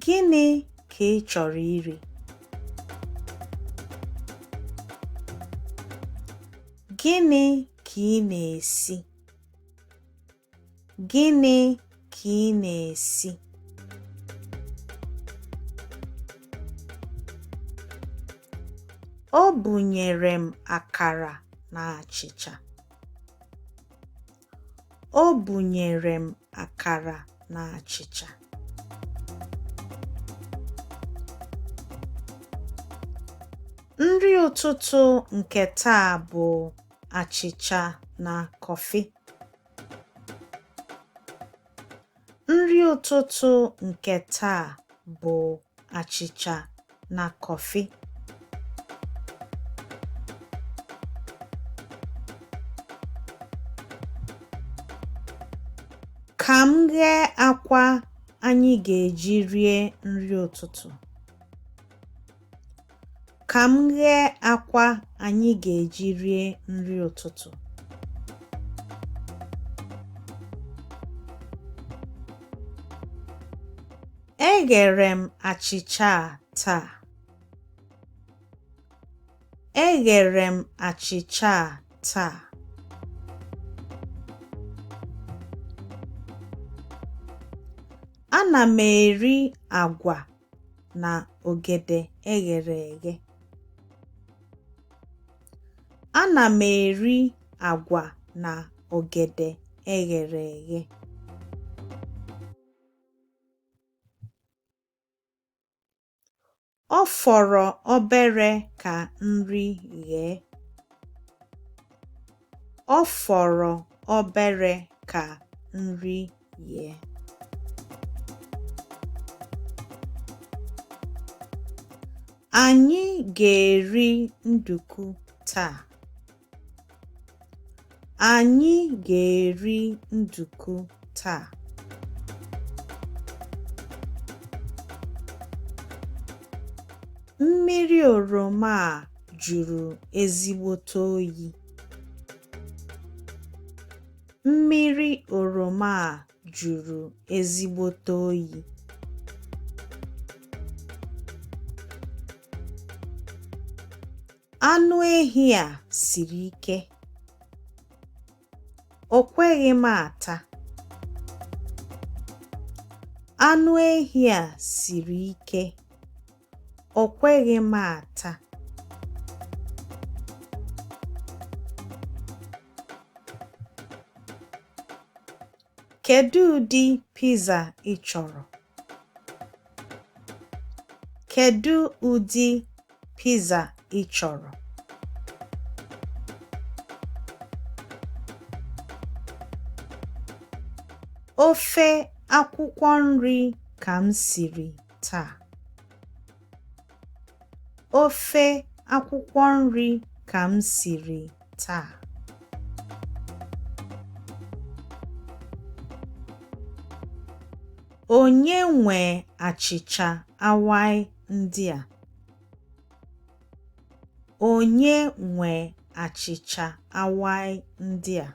Gịnị ka ị chọrọ iri? Gịnị ka ị na-esi? Gịnị ka ị na-esi? O bunyere m akara na achịcha. O bunyere m akara na achịcha. Nri ụtụtụ nke taa bụ achịcha na kọfị. Nri ụtụtụ nke taa bụ achịcha na kọfị. Ka m ghee akwa anyị ga-eji rie nri ụtụtụ. Ka m ghee akwa anyị ga-eji rie nri ụtụtụ. Eghere m achịcha a taa. Eghere m achịcha a taa. Ana m eri agwa na ogede eghere eghe. Ana m eri agwa na ogede eghere eghe. Ọ fọrọ obere ka nri ghee. Ọ fọrọ obere ka nri ghee. Anyị ga-eri nduku taa. Anyị ga-eri nduku taa. Mmiri oroma a jụrụ ezigbote oyi. Mmiri oroma a jụrụ ezigbote oyi. Anụ ehi a siri ike. O kweghị m ata. Anụ ehi a siri ike. O kweghị m ata. Kedu ụdị pizza ị chọrọ? Kedu ụdị pizza ị chọrọ? Ofe akwụkwọ nri ka m siri taa. Ofe akwụkwọ nri ka m siri taa. Onye nwe achịcha awaị ndị a? Onye nwe achịcha awaị ndị a?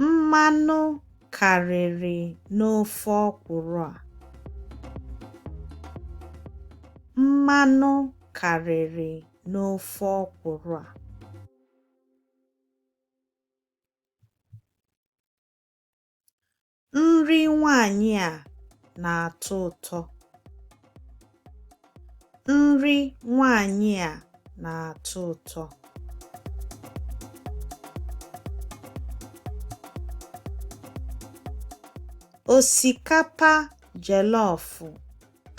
Mmanụ karịrị n'ofe ọkwụrụ a. Mmanụ karịrị n'ofe ọkwụrụ a. Nri nwanyị a na-atọ ụtọ. Nri nwanyị a na-atọ ụtọ. Osikapa jọlọf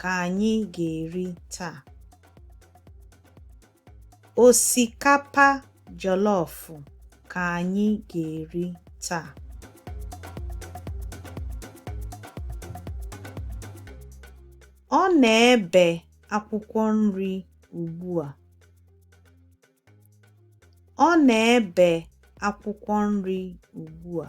ka anyị ga-eri taa. Osikapa jọlọf ka anyị ga-eri taa. Ọ na-ebe akwụkwọ nri ugbu a. Ọ na-ebe akwụkwọ nri ugbu a.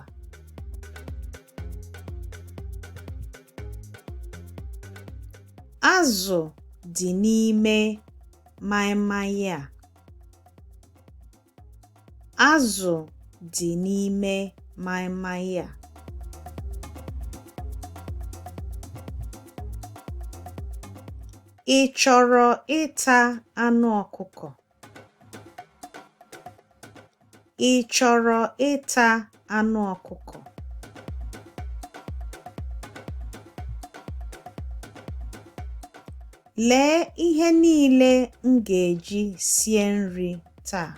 Azụ dị n'ime maịmaị a. Azụ dị n'ime maịmaị a. Ị chọrọ ịta anụ ọkụkọ? Ị chọrọ ịta anụ ọkụkọ? Lee ihe niile m ga-eji sie nri taa.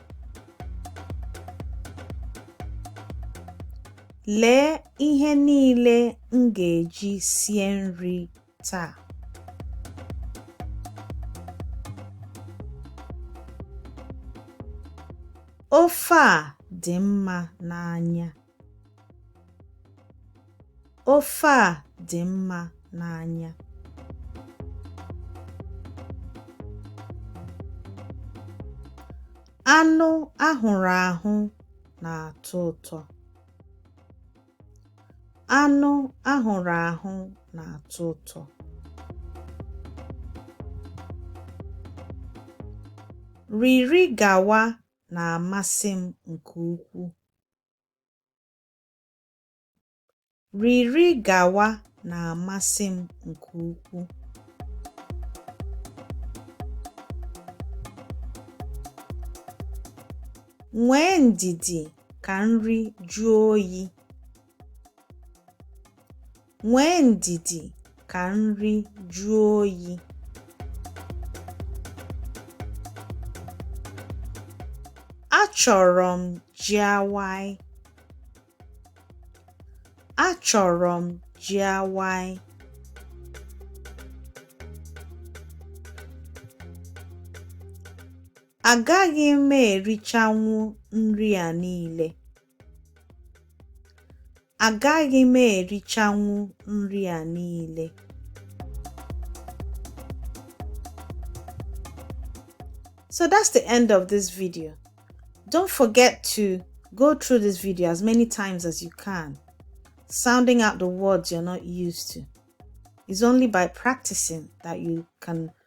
Lee ihe niile m ga-eji sie nri taa. Ofe a dị mma n'anya. Ofe a dị mma n'anya. Anụ ahụrụ ahụ na-atọ ụtọ. Anụ ahụrụ ahụ na-atọ ụtọ. Riri gawa na-amasị m nke ukwuu. Riri gawa na-amasị m nke ukwuu. Nwee ndidi ka nri jụọ oyi. Nwee ndidi ka nri jụọ oyi. Achọrọ m ji awaị. Achọrọ m ji awaị. Agaghị m erichanwu nri a niile. Agaghị m erichanwu nri a niile. So that's the end of this video. Don't forget to go through this video as many times as you can, sounding out the words you're not used to. It's only by practicing that you can